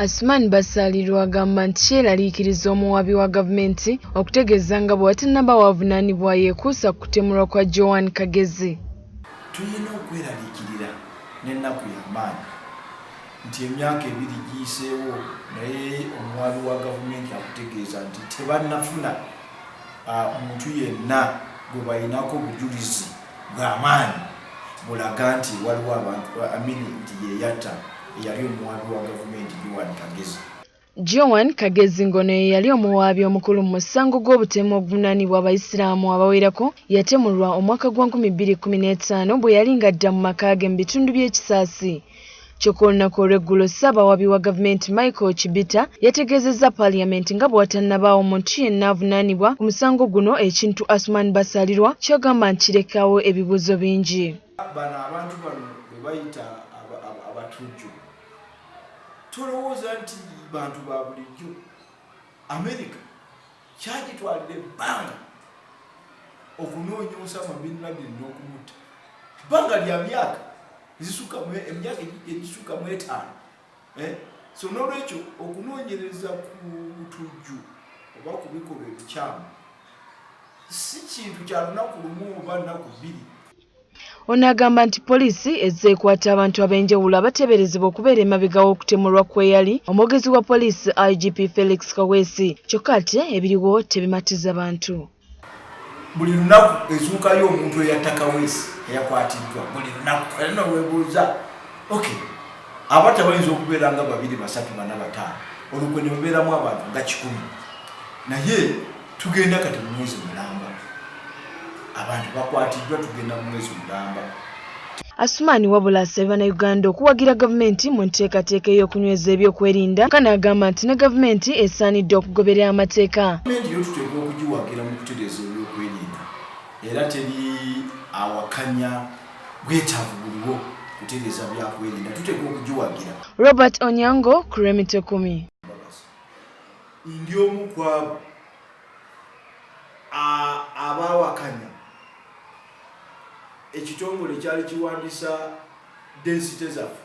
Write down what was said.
Asuman Basalirwa agamba nti kyeraliikiriza omuwaabi wa gavumenti okutegeeza nga bwe watannaba wavunaanibwa yeekuusa ku kutemulwa kwa Joan Kagezi. Tulina okweraliikirira n'ennaku y'amaanyi nti emyaka ebiri giyiseewo naye omuwaabi wa gavumenti akutegeeza nti tebannafuna muntu yenna gwe balinako bujulizi. bw'amaanyi bulaga nti waliwo abantu amini nti yeyatta eyali omuwaabi wa gavumenti Joan Kagezi. Joan Kagezi ng'ono ye yali omuwaabi omukulu mu musango gw'obutemu oguvunaanibwa Abayisiraamu abawerako yatemulwa omwaka gwa nkumi bbiri kkumi n'etaano bwe yali ng'adda mu maka ge mu bitundu by'e Kisaasi. Kyokka olunaku olw'eggulo Ssaabawaabi wa Gavumenti Michael Chibita yategeezezza Parliament nga bwewatannabaawo muntu yenna avunaanibwa ku musango guno ekintu Asuman Basalirwa kyagamba nti kirekaawo ebibuuzo bingi. Bano abantu bano bebayita abatujju tolowooza nti bantu ba bulijjo America Kyagitwalira ebbanga okunoonya Osama bin Laden n'okumutta bbanga lya myaka ezisuka emyaka egisuka mu etaano eh? so n'olwekyo okunoonyereza ku butujju oba ku bikolwa ebikyamu si kintu kya lunaku lumu oba nnaku bbiri Ono agamba nti poliisi ezze ekwata abantu ab'enjawulo abateeberezebwa okubeera emabega w'okutemulwa kw'eyali omwogezi wa poliisi IGP Felix Kaweesi kyokka ate ebiriwo tebimatiza bantu. Buli lunaku ezuukayo omuntu eyatta Kaweesi eyakwatiddwa buli lunaku era noweebuuza ok abatta bayinza okubeera nga babiri basatu bana bataano olukwe ne lubeeramu abantu nga kikumi naye tugenda kati mu mwezi mulamba abantu bakwatiddwa tugenda mu mwezi mulamba Asumaani wabula asabye Bannayuganda okuwagira gavumenti mu nteekateeka ey'okunyweza ebyokwerinda ka n'agamba nti ne gavumenti esaanidde okugoberera amateeka. Gavumenti yo tuteekwa okugiwagira mu kutereeza ebyokwerinda era teri awakanya bwetaavu buliwo kutereeza byakwerinda tuteekwa okugiwagira. Robert Onyango ku Remitekumii. Ndi omu ku abo abaawakanya ekitongole kyali kiwandisa densite zaffe.